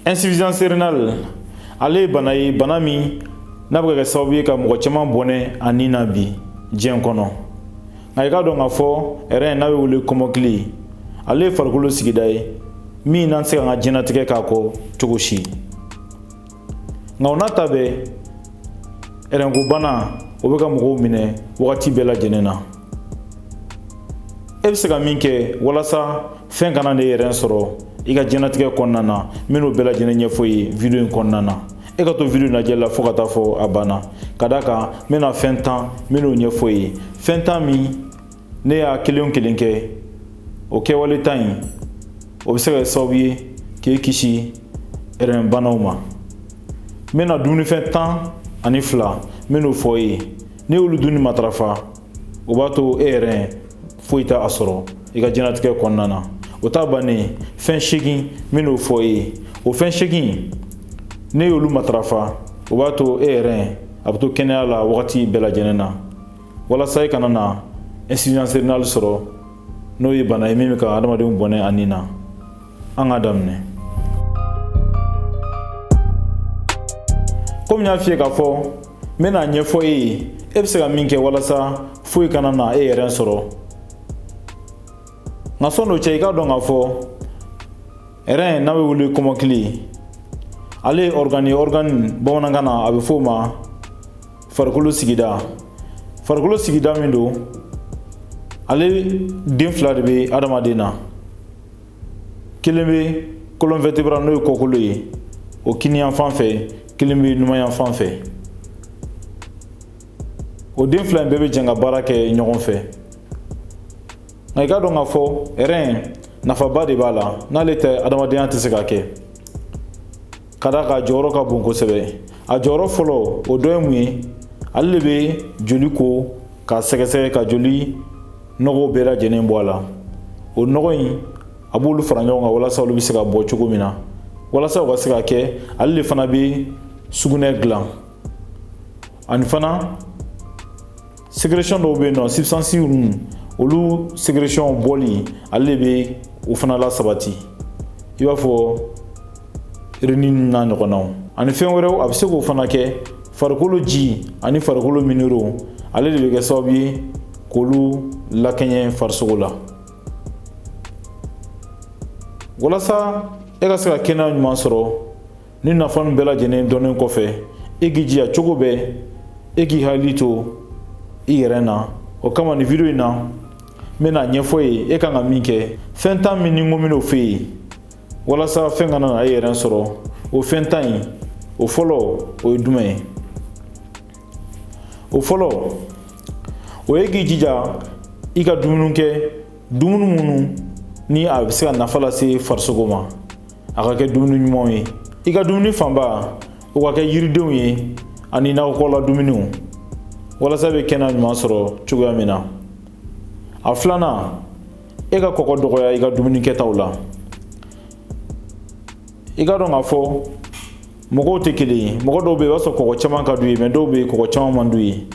insuffisance rénale ale ye bana ye bana min n'a bɛ ka kɛ sababu ye ka mɔgɔ caman bɔnɛ a ni na bi diɲɛ kɔnɔ nka i k'a dɔn k'a fɔ rein n'a bɛ wele kɔmɔkili ale ye farikolo sigida ye min n'an tɛ se ka an ka diɲɛnatigɛ k'a kɔ cogo si nka o n'a ta bɛɛ rein ko bana o bɛ ka mɔgɔw minɛ wagati bɛɛ lajɛlen na e bɛ se ka min kɛ walasa fɛn kana n'e rein sɔrɔ i ka jɛnatigɛ kɔnɔna na n bɛn'o bɛɛ lajɛlen ɲɛfɔ e ye video in kɔnɔna na e ka to video lajɛ la fo ka taa fɔ a banna ka d'a kan n bɛna fɛn tan n bɛn'o ɲɛfɔ e ye fɛn tan min n'e y'a kelen kelen kɛ o kɛwale tan in o bɛ se ka kɛ sababu ye k'e kisi rein banaw ma n bɛna dumunifɛn tan ani fila n bɛn'o fɔ e ye n'e y'olu dunni matarafa o b'a to e rein foyi t'a sɔrɔ i ka jɛnatigɛ kɔnɔna na o ta bannen fɛn seegin n bɛn'o fɔ e ye o fɛn seegin n'e y'olu matarafa o b'a to e rein a bɛ to kɛnɛya la wagati bɛɛ lajɛlen na walasa i kana na insuffisance rénale sɔrɔ n'o ye bana ye min bɛ ka adamadenw bɔnɛ a nin na an k'a daminɛ komi n y'a f'i ye k'a fɔ n bɛn'a ɲɛfɔ e ye e bɛ se ka min kɛ walasa foyi kana na e rein sɔrɔ nka sɔni o cɛ i k'a dɔn k'a fɔ rein n'a bɛ wele kɔmɔkili ale ye organe ye organe bamanankan na a bɛ f'o ma farikolo sigida farikolo sigida min don ale den fila de bɛ adamaden na kelen bɛ colonne vertébrale n'o ye kɔkolo ye o kiniyanfan fɛ kelen bɛ numanyanfan fɛ o den fila in bɛɛ bɛ jɛn ka baara kɛ ɲɔgɔn fɛ nka i k'a dɔn k'a fɔ rein nafaba de b'a la n'ale tɛ adamadenya tɛ se ka kɛ ka d'a kan a jɔyɔrɔ ka bon kosɛbɛ a jɔyɔrɔ fɔlɔ o dɔ ye mun ye ale de bɛ joli ko k'a sɛgɛsɛgɛ ka joli nɔgɔw bɛɛ lajɛlen bɔ a la o nɔgɔ in a b'olu fara ɲɔgɔn kan walasa olu bɛ se ka bɔ cogo min na walasa o ka se ka kɛ ale de fana bɛ sugunɛ dilan ani fana sécrétion dɔw bɛ yen n'o substance ninnu olu sécrétion bɔli ale de bɛ o fana lasabati i b'a fɔ rénine n'a ɲɔgɔnnaw ani fɛn wɛrɛw a bɛ se k'o fana kɛ farikolo ji ani farikolo minéraux ale de bɛ kɛ sababu ye k'olu lakɛɲɛ farisogo la walasa e ka se ka kɛnɛya ɲuman sɔrɔ ni nafa ninnu bɛɛ lajɛlen dɔnnen kɔfɛ e k'i jija cogo bɛɛ e k'i hakili to i yɛrɛ na o kama nin video in na n bɛn'a ɲɛfɔ i ye e kan ka min kɛ fɛn tan min ni n ko n bɛn'o f'e ye walasa fɛn kana na e yɛrɛ sɔrɔ o fɛn tan in o fɔlɔ o ye jumɛn ye o fɔlɔ o ye k'i jija i ka dumuni kɛ dumuni minnu ni a bɛ se ka nafa lase farisogo ma a ka kɛ dumuni ɲumanw ye i ka dumuni fanba o ka kɛ yiridenw ye ani nakɔkɔla dumuniw walasa i bɛ kɛnɛya ɲuman sɔrɔ cogoya min na a filanan e ka kɔgɔ dɔgɔya i ka dumuni kɛtaw la i ka dɔn k'a fɔ mɔgɔw tɛ kelen ye mɔgɔ dɔw bɛ yen i b'a sɔrɔ kɔgɔ caman ka d'u ye mais dɔw bɛ yen kɔgɔ caman man d'u ye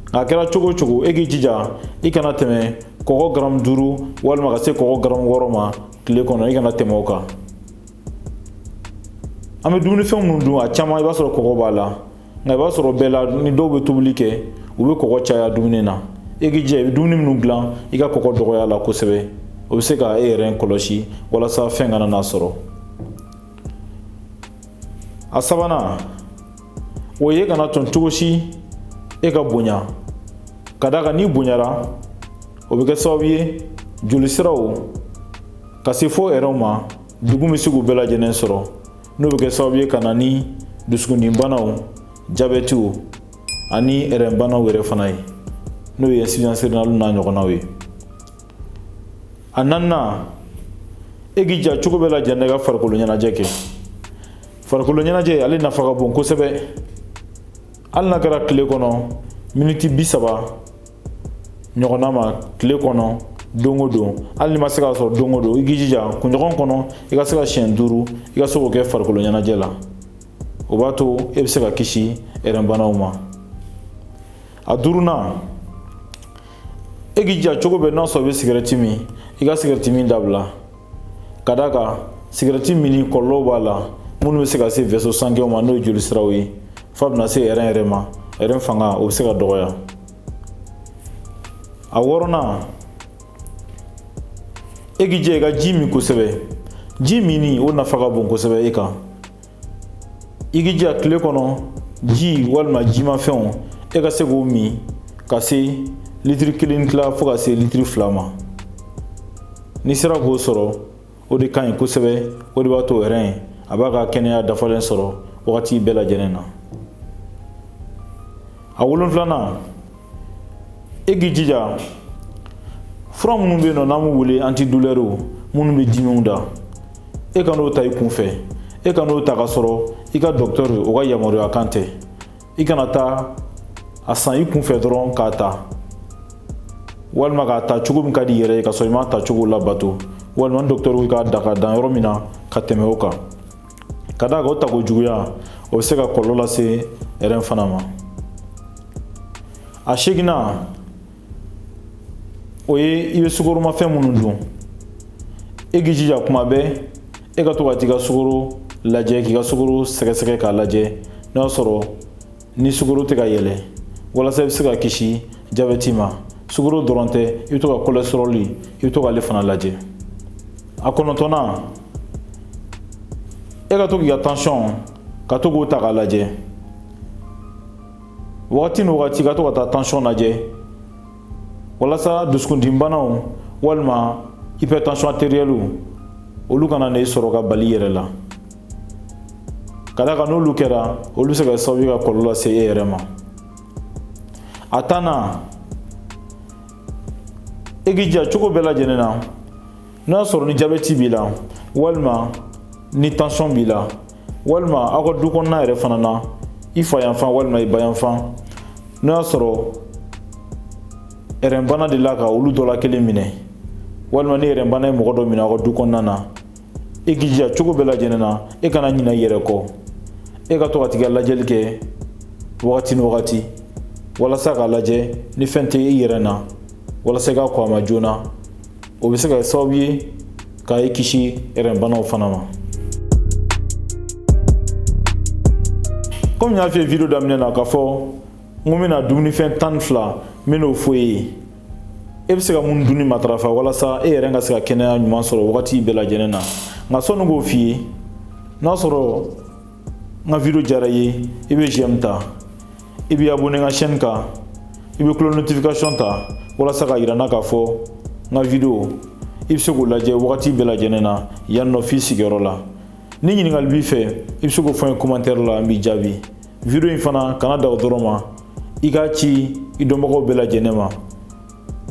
nka a kɛra cogo o cogo e k'i jija i kana tɛmɛ kɔgɔ garamu duuru walima ka se kɔgɔ garamu wɔɔrɔ ma tile kɔnɔ i kana tɛmɛ o kan an bɛ dumunifɛn minnu dun a caman i b'a sɔrɔ kɔgɔ b'a la nka i b'a sɔrɔ bɛɛ la ni dɔw bɛ tobili kɛ u bɛ kɔgɔ caya dumuni na e k'i jija i bɛ dumuni minnu dilan i ka kɔgɔ dɔgɔya a la kosɛbɛ o bɛ se ka e yɛrɛ kɔlɔsi walasa fɛn kana n'a sɔrɔ a sabanan o ye kana tɔn cogo si e ka bonya ka d'a kan n'i bonyara o bɛ kɛ sababu ye jolisiraw ka se fo ɛrɛnw ma degun bɛ se k'u bɛɛ lajɛlen sɔrɔ n'o bɛ kɛ sababu ye ka na ni dusukundimi banaw jabɛtiw ani ɛrɛn banaw yɛrɛ fana ye n'o ye insuffisance rénale n'a ɲɔgɔnnaw ye a naaninan e k'i jija cogo bɛɛ lajɛlen e ka farikolo ɲɛnajɛ kɛ farikolo ɲɛnajɛ ale nafa ka bon kosɛbɛ hali n'a kɛra tile kɔnɔ miniti bi saba ɲɔgɔnna ma tile kɔnɔ don o don hali n'i ma se k'a sɔrɔ don o don i k'i jija kunɲɔgɔn kɔnɔ i ka se ka siɲɛ duuru i ka se k'o kɛ farikolo ɲɛnajɛ la o b'a to e bɛ se ka kisi ɛrɛn banaw ma a duurunan e k'i jija cogo bɛɛ n'a sɔrɔ i bɛ sigɛrɛti min i ka sigɛrɛti min dabila ka d'a kan sigɛrɛti minni kɔlɔlɔw b'a la minnu bɛ se ka se vaisseaux sanguins ma n'o ye joli siraw ye f'a bɛna se ɛrɛn yɛrɛ ma ɛrɛn fanga o bɛ se ka dɔgɔya a wɔɔrɔnan e k'i jija i ka ji min kosɛbɛ ji minni o nafa ka bon kosɛbɛ e kan i k'i jija tile kɔnɔ ji walima jimafɛnw e ka se k'o min ka se litiri kelen tila fo ka se litiri fila ma n'i sera k'o sɔrɔ o de ka ɲi kosɛbɛ o de b'a to rɛn a b'a ka kɛnɛya dafalen sɔrɔ wagati bɛɛ lajɛlen na a wolonfilanan e k'i jija fura minnu bɛ yen nɔ n'an b'u wele antidulɛriw minnu bɛ dimiw da e kan'o ta i kunfɛ e kan'o ta ka sɔrɔ i ka dɔkitɔri o ka yamaruya kan tɛ i kana taa a san i kunfɛ dɔrɔn k'a ta walima k'a ta cogo min ka di i yɛrɛ ye ka sɔrɔ i m'a ta cogo labato walima ni dɔkitɔri ko i k'a ta ka dan yɔrɔ min na ka tɛmɛ o kan ka d'a kan o tako juguya o bɛ se ka kɔlɔlɔ lase rɛn fana ma a seginnan o ye i bɛ sukoromafɛn minnu dun e k'i jija kuma bɛɛ e ka to ka t'i ka sukoro lajɛ k'i ka sukoro sɛgɛsɛgɛ k'a lajɛ n'a sɔrɔ ni sukoro tɛ ka yɛlɛ walasa i bɛ se ka kisi jabɛti ma sukoro dɔrɔn tɛ i bɛ to ka cholestérol i bɛ to k'ale fana lajɛ a kɔnɔntɔnnan e ka to k'i ka tansiyɔn ka to k'o ta k'a lajɛ wagati ni wagati ka to ka taa tansiyɔn lajɛ walasa dusukundimibanaw walima hypertension artérielle olu kana n'e sɔrɔ ka bala i yɛrɛ la ka d'a kan n'olu kɛra olu bɛ se ka kɛ sababu ye ka kɔlɔlɔ lase e yɛrɛ ma a tannan e k'i jija cogo bɛɛ lajɛlen na n'o y'a sɔrɔ ni jabɛti b'i la walima ni tansiyɔn b'i la walima aw ka du kɔnɔna yɛrɛ fana na i fa yanfan walima i ba yanfan n'o y'a sɔrɔ rɛnbana delila ka olu dɔ la kelen minɛ walima ni rɛnbana ye mɔgɔ dɔ minɛ aw ka du kɔnɔna na e k'i jija cogo bɛɛ lajɛlen na e kana ɲina i yɛrɛ kɔ e ka to ka t'i ka lajɛli kɛ wagati ni wagati walasa k'a lajɛ ni fɛn tɛ i yɛrɛ na walasa i ka kɔn a ma joona o bɛ se ka kɛ sababu ye ka i kisi rɛnbanaw fana ma komi n y'a f'i ye video daminɛ na k'a fɔ n ko n bɛna dumunifɛn tan ni fila n bɛn'o fɔ e ye e bɛ se ka mun dunni matarafa walasa e yɛrɛ ka se ka kɛnɛya ɲuman sɔrɔ wagati bɛɛ lajɛlen na nka sɔnni k'o f'i ye n'a sɔrɔ n ka video diyara i ye i bɛ j'aime ta i bɛ abonné n ka chaîne kan i bɛ cloche notification ta walasa k'a yira n na k'a fɔ n ka video i bɛ se k'o lajɛ wagati bɛɛ lajɛlen na yan nɔ f'i sigiyɔrɔ la ni ɲininkali b'i fɛ i bɛ se k'o fɔ n ye commentaire la n b'i jaabi video in fana kana dan o dɔrɔn ma i k'a ci i dɔnbagaw bɛɛ lajɛlen ma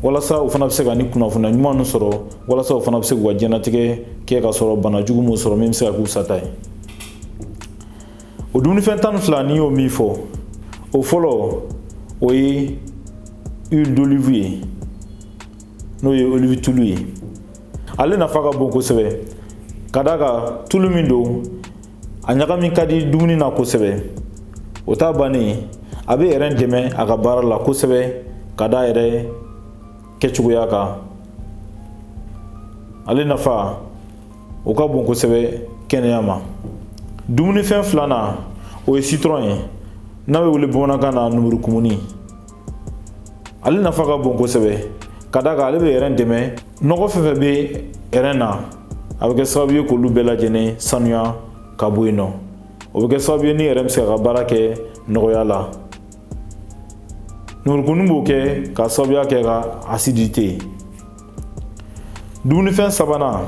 walasa u fana bɛ se ka ni kunnafoniya ɲuman ninnu sɔrɔ walasa u fana bɛ se k'u ka diɲɛnatigɛ kɛ ka sɔrɔ bana jugu m'u sɔrɔ min bɛ se ka k'u sata ye o dumunifɛn tan ni fila n'i y'o min fɔ o fɔlɔ o ye huile d'olive ye n'o ye olive tulu ye ale nafa ka bon kosɛbɛ ka d'a kan tulu min don a ɲagami ka di dumuni na kosɛbɛ o t'a bannen a bɛ rɛn dɛmɛ a ka baara la kosɛbɛ ka d'a yɛrɛ kɛcogoya kan ale nafa o ka bon kosɛbɛ kɛnɛya ma dumunifɛn filanan o ye sitɔrɔn ye n'a bɛ wele bamanankan na numurukumuni ale nafa ka bon kosɛbɛ ka d'a kan ale bɛ rɛn dɛmɛ nɔgɔ fɛn fɛn bɛ rɛn na a bɛ kɛ sababu ye k'olu bɛɛ lajɛlen sanuya ka bɔ yen nɔ o bɛ kɛ sababu ye ni rɛn bɛ se ka baara kɛ nɔgɔya la numurukumuni b'o kɛ ka sababuya kɛ ka asidite dumunifɛn sabanan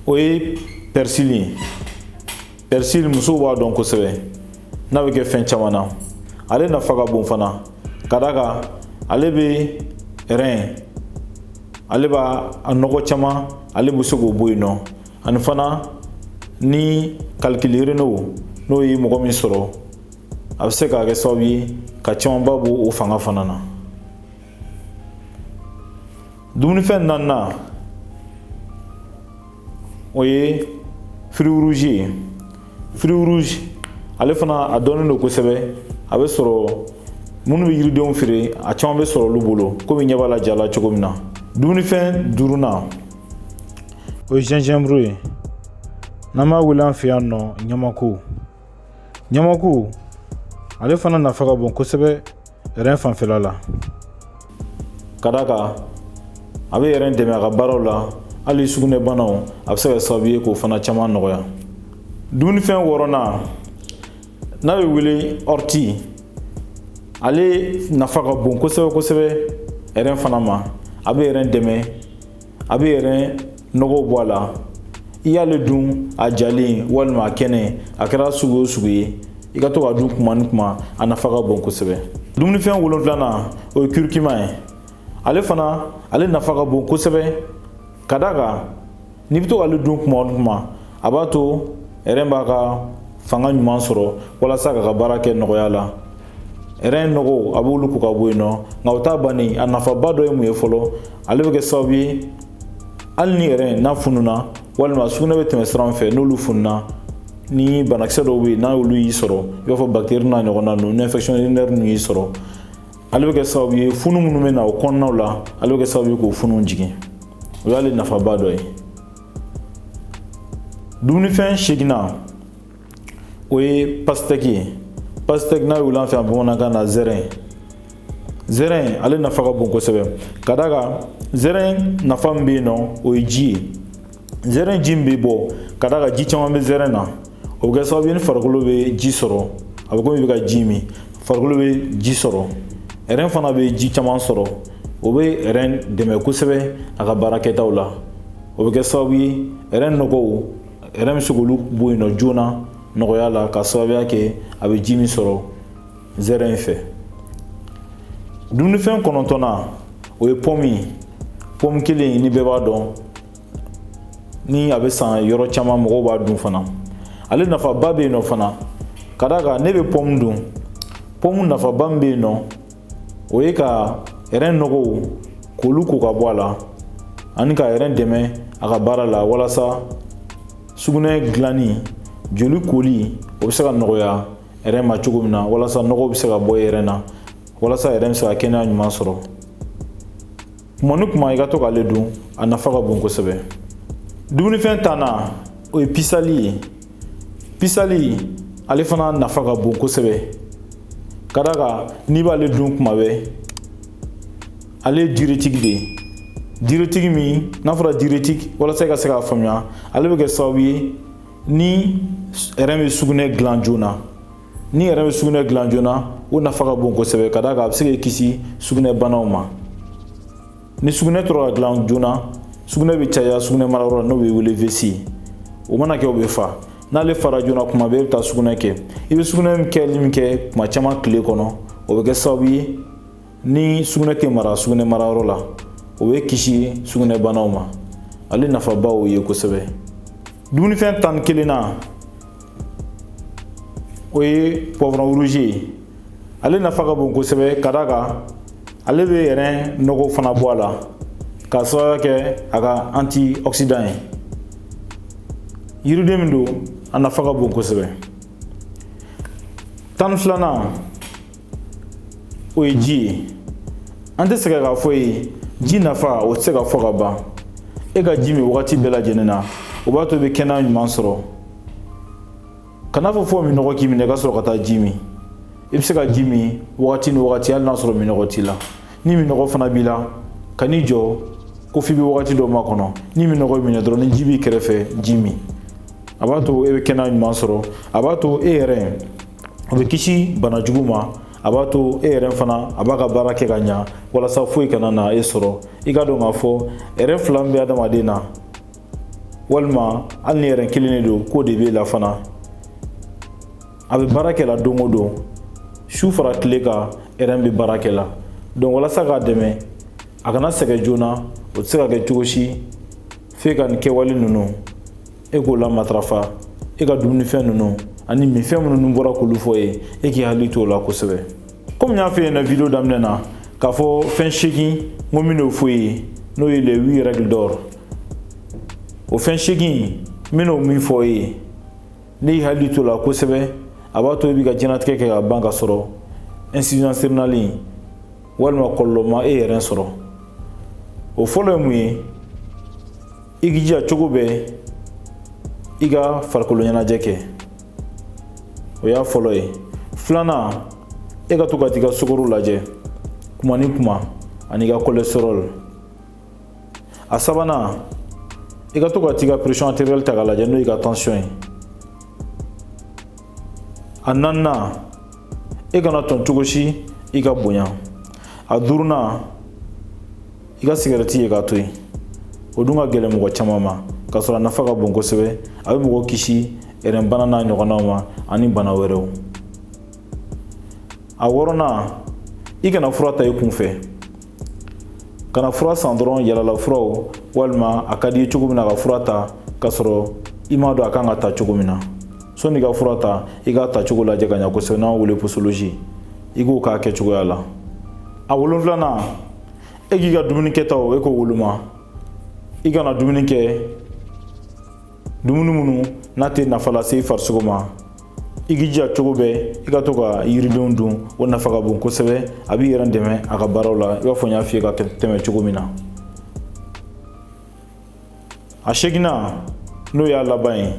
o ye pɛrisili ye pɛrisili musow b'a dɔn kosɛbɛ n'a bɛ kɛ fɛn caman na ale nafa ka bon fana ka d'a kan ale bɛ rɛn ale b'a a nɔgɔ caman ale bɛ se k'o bɔ yen nɔ ani fana ni calculs rénaux n'o ye mɔgɔ min sɔrɔ a bɛ se ka kɛ sababu ye ka camanba bɔ o fanga fana na dumunifɛn naaninan o ye firiwuruzi ye firiwuruzi ale fana a dɔnnen don kosɛbɛ a bɛ sɔrɔ minnu bɛ yiridenw feere a caman bɛ sɔrɔ olu bolo komi ɲɛ b'a la ja la cogo min na dumunifɛn duurunan o ye zinzɛnburu ye n'an b'a wele an fɛ yan nɔ ɲamaku ɲamaku ale fana nafa ka bon kosɛbɛ rɛn fanfɛla la ka d'a kan a bɛ rɛn dɛmɛ a ka baaraw la hali sugunɛbanaw a bɛ se ka sababu ye k'o fana caman nɔgɔya dumunifɛn wɔɔrɔnan n'a bɛ wele ɔriti ale nafa ka bon kosɛbɛ kosɛbɛ rɛn fana ma a bɛ rɛn dɛmɛ a bɛ rɛn nɔgɔw bɔ a la i y'ale dun a jalen walima a kɛnɛ a kɛra sugu o sugu ye i ka to k'a dun kuma ni kuma a nafa ka bon kosɛbɛ dumunifɛn wolonfilanan o ye kirikima ye ale fana ale nafa ka bon kosɛbɛ ka d'a kan n'i bɛ to k'ale dun kuma ni kuma a b'a to ɛrɛn b'a ka fanga ɲuman sɔrɔ walasa k'a ka baara kɛ nɔgɔya la rɛn nɔgɔw a b'olu ko ka bɔ yen nɔ nka o t'a bannen a nafaba dɔ ye mun ye fɔlɔ ale bɛ kɛ sababu ye hali ni rɛn n'a fununa walima sugunɛ bɛ tɛmɛ sira min fɛ n'olu fununa ni banakisɛ dɔw bɛ yen n'olu y'i sɔrɔ i b'a fɔ bactérie n'a ɲɔgɔnna ninnu ni infection urinaire ninnu y'i sɔrɔ ale bɛ kɛ sababu ye funu minnu bɛ na o kɔnɔnaw la ale bɛ kɛ sababu ye k'o funu jigin o y'ale nafaba dɔ ye dumunifɛn seginnan o ye pasitɛki ye pasitɛki n'a bɛ wele an fɛ yan bamanankan na zɛrɛn zɛrɛn ale nafa ka bon kosɛbɛ ka d'a kan zɛrɛn nafa min bɛ yen nɔ o ye ji ye zɛrɛn ji min bɛ bɔ ka d'a kan ji caman bɛ zɛrɛn na o bɛ kɛ sababu ye ni farikolo bɛ ji sɔrɔ a bɛ komi i bɛ ka ji min farikolo bɛ ji sɔrɔ rɛn fana bɛ ji caman sɔrɔ o bɛ rɛn dɛmɛ kosɛbɛ a ka baara kɛtaw la o bɛ kɛ sababu ye rɛn nɔgɔw rɛn bɛ se k'olu bɔ yen nɔ joona nɔgɔya la ka sababuya kɛ a bɛ ji min sɔrɔ zɛrɛn in fɛ dumunifɛn kɔnɔntɔnnan o ye pɔmu ye pɔmu kelen ni bɛɛ b'a dɔn ni a bɛ san yɔrɔ caman mɔgɔw b'a dun fana ale nafaba bɛ yen nɔ fana ka d'a kan n'i bɛ pɔmu dun pɔmu nafaba min bɛ yen nɔ o ye ka rɛn nɔgɔw k'olu ko ka bɔ a la ani ka rɛn dɛmɛ a ka baara la walasa sugunɛ dilanni joli koli o bɛ se ka nɔgɔya rɛn ma cogo min na walasa nɔgɔw bɛ se ka bɔ rɛn na walasa rɛn bɛ se ka kɛnɛya ɲuman sɔrɔ kuma ni kuma i ka to k'ale dun a nafa ka bon kosɛbɛ dumunifɛn tannan o ye pisali ye pisali ale fana nafa ka bon kosɛbɛ ka d'a kan n'i b'ale dun kuma bɛɛ ale ye diurétique de ye diurétique min n'a fɔra diurétique walasa i ka se k'a faamuya ale bɛ kɛ sababu ye ni rɛn bɛ sugunɛ dilan joona ni rɛn bɛ sugunɛ dilan joona o nafa ka bon kosɛbɛ ka d'a kan a bɛ se k'i kisi sugunɛ banaw ma ni sugunɛ tora ka dilan joona sugunɛ bɛ caya sugunɛ marayɔrɔ la n'o bɛ wele vessie o mana kɛ o bɛ fa n'ale fara joona kuma bɛɛ i bɛ taa sugunɛ kɛ i bɛ sugunɛ kɛli min kɛ kuma caman tile kɔnɔ o bɛ kɛ sababu ye ni sugunɛ tɛ mara sugunɛ marayɔrɔ la o b'i kisi sugunɛbanaw ma ale nafabaw ye kosɛbɛ dumunifɛn tan ni kelennan o ye poivron rouge ye ale nafa ka bon kosɛbɛ ka d'a kan ale bɛ rɛn nɔgɔ fana bɔ a la ka sababuya kɛ a ka antioxydant ye yiriden min don a nafa ka bon kosɛbɛ tan ni filanan o ye ji ye an tɛ sɛgɛn k'a fɔ ye ji nafa o tɛ se ka fɔ ka ban e ka ji min wagati bɛɛ lajɛlen na o b'a to i bɛ kɛnɛya ɲuman sɔrɔ kana fɔ fo minɔgɔ k'i minɛ i ka sɔrɔ ka taa ji min i bɛ se ka ji min wagati ni wagati hali n'a sɔrɔ minɔgɔ t'i la ni minɔgɔ fana b'i la kan'i jɔ ko f'i bɛ wagati dɔ makɔnɔ ni minɔgɔ minɛ dɔrɔn ni ji b'i kɛrɛfɛ ji min a b'a to e bɛ kɛnɛya ɲuman sɔrɔ a b'a to e ɛrɛn o bɛ kisi bana jugu ma a b'a to e ɛrɛn fana a b'a ka baara kɛ ka ɲa walasa foyi kana na e sɔrɔ i k'a dɔn k'a fɔ ɛrɛn fila min bɛ adamaden na walima hali ni ɛrɛn kelen de don k'o de b'e la fana a bɛ baara kɛ la don o don su fara tile kan ɛrɛn bɛ baara kɛ la donc walasa k'a dɛmɛ a kana sɛgɛn joona o tɛ se ka kɛ cogo si f'e ka nin kɛwale ninnu e k'o la matarafa e ka dumunifɛn ninnu ani minfɛn minnu n bɔra k'olu fɔ ye e k'i hakili to o la kosɛbɛ komi n y'a fɔ e ɲɛna video daminɛ na k'a fɔ fɛn seegin n ko n bɛn'o fɔ ye n'o ye les huit règles d'or o fɛn seegin n bɛn'o min fɔ ye n'i y'i hakili to o la kosɛbɛ a b'a to i b'i ka diɲɛnatigɛ kɛ ka ban ka sɔrɔ insuffisance rénale in walima kɔlɔlɔ ma e ɛrɛn sɔrɔ o fɔlɔ ye mun ye i k'i jija cogo bɛɛ i ka farikolo ɲɛnajɛ kɛ o y'a fɔlɔ ye filanan e ka to ka t'i ka sukoro lajɛ kuma ni kuma ani i ka cholestérol a sabanan i ka to ka t'i ka pression artérielle ta k'a lajɛ n'o y'i ka tension ye a naaninan e kan'a to cogo si i ka bonya a duurunan i ka sigɛrɛti ye k'a to yen o dun ka gɛlɛn mɔgɔ caman ma k'a sɔrɔ a nafa ka bon kosɛbɛ a bɛ mɔgɔ kisi ɛrɛnbana n'a ɲɔgɔnnaw ma ani bana wɛrɛw a wɔɔrɔnan i kana fura ta i kun fɛ kana fura san dɔrɔn yalala furaw walima a ka di i cogo min na ka fura ta k'a sɔrɔ i m'a dɔn a kan ka ta cogo min na sɔni i ka fura ta i k'a ta cogo lajɛ ka ɲa kosɛbɛ n'an wele posologie i k'o k'a kɛcogoya la a wolonfilanan e k'i ka dumuni kɛtaw e k'o woloma i kana dumuni kɛ dumuni minnu n'a tɛ nafa lase i farisogo ma i k'i jija cogo bɛɛ i ka to ka yiridenw dun o nafa ka bon kosɛbɛ a b'i ɛrɛn dɛmɛ a ka baaraw la i b'a fɔ n y'a f'i ye ka tɛmɛ cogo min na a seeginnan n'o y'a laban ye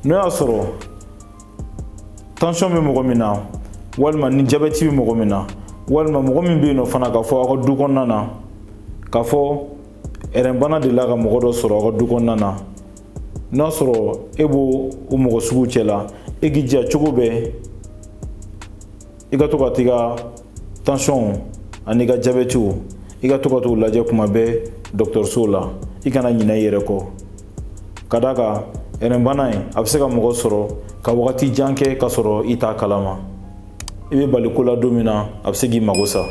n'o y'a sɔrɔ tansɔn bɛ mɔgɔ min na walima ni jabɛti bɛ mɔgɔ min na walima mɔgɔ min bɛ yen n'o fana k'a fɔ aw ka du kɔnɔna na k'a fɔ ɛrɛnbana delila ka mɔgɔ dɔ sɔrɔ aw ka du kɔnɔna na n'a sɔrɔ e b'o o mɔgɔ sugu cɛ la e k'i jija cogo bɛɛ i ka to ka t'i ka tansiyɔnw an'i ka jabɛtiw i ka to ka t'u lajɛ kuma bɛɛ dɔgɔtɔrɔsow la i kana ɲinɛ i yɛrɛ kɔ ka d'a kan rɛnbana in a bɛ se ka mɔgɔ sɔrɔ ka wagati jan kɛ k'a sɔrɔ i t'a kalama i bɛ bali ko la don min na a bɛ se k'i mago sa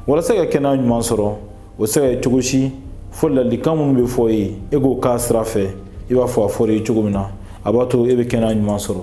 walasa ka kɛnɛya ɲuman sɔrɔ o tɛ se ka kɛ cogo si fo ladilikan minnu bɛ fɔ i ye e k'o k'a sira fɛ i b'a fɔ a fɔra i ye cogo min na a b'a to e bɛ kɛnɛya ɲuman sɔrɔ